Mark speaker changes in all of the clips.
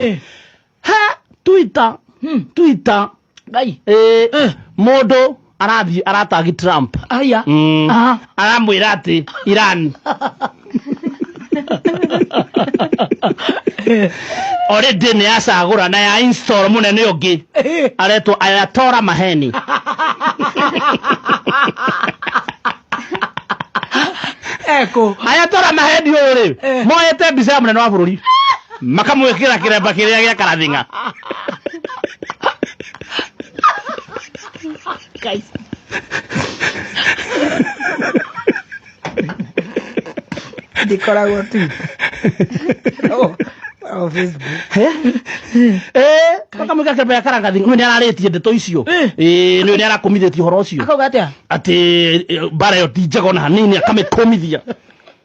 Speaker 1: Eh. he twitter Hmm. twitter Ngai. eh,
Speaker 2: Eh. mũndũ
Speaker 1: arathiĩ aratagi trump Aya. Mm.
Speaker 2: Aha. aramwĩra
Speaker 1: atĩ iran already nĩ yacagũra na ya install mũnene ũngĩ Eh. aretwo ayatora maheni
Speaker 2: Eko. ayatora
Speaker 1: maheni ũyũ rĩ Eh. moete mbica ya mũnene wa bũrũri makamwĩkĩra kĩremba kĩrĩa gĩa karathing'a
Speaker 2: Guys. ndikoragwo tu No, no, Facebook. Eh,
Speaker 1: makamwĩkĩra kĩremba gĩa karathing'a ũyũ nĩ ararĩtie ndeto icio Eh, nĩ nĩ arakumithĩtie ũhoro ũcio akauga atia atĩ
Speaker 2: eh,
Speaker 1: mbara ĩyo ti njega ona hanini akamĩkũmithia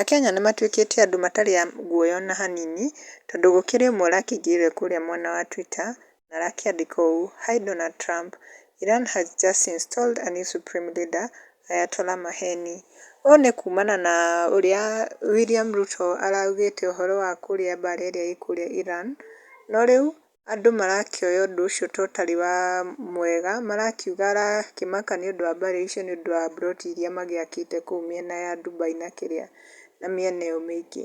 Speaker 3: Akenya nĩ matuĩkĩte andũ matarĩ a guoya ona hanini, tondũ gũkĩrĩ ũmwe ũrakĩingĩrire kũrĩa mwena wa Twitter, na arakĩandĩka ũũ, Hi Donald Trump, Iran has just installed a new supreme leader, Ayatollah Maheni. Ũũ nĩ kumana na ũrĩa William Ruto araugĩte ũhoro wa kũrĩa mbara ĩrĩa ĩkũrĩa Iran, no rĩu andũ marakĩoya ũndũ ũcio ta ũtarĩ wa mwega, marakiuga arakĩmaka nĩ ũndũ wa mbarĩ icio nĩ ũndũ wa mburoti iria magĩakĩte kũu mĩena ya Dubai na kĩrĩa na mĩena ĩyo mĩingĩ.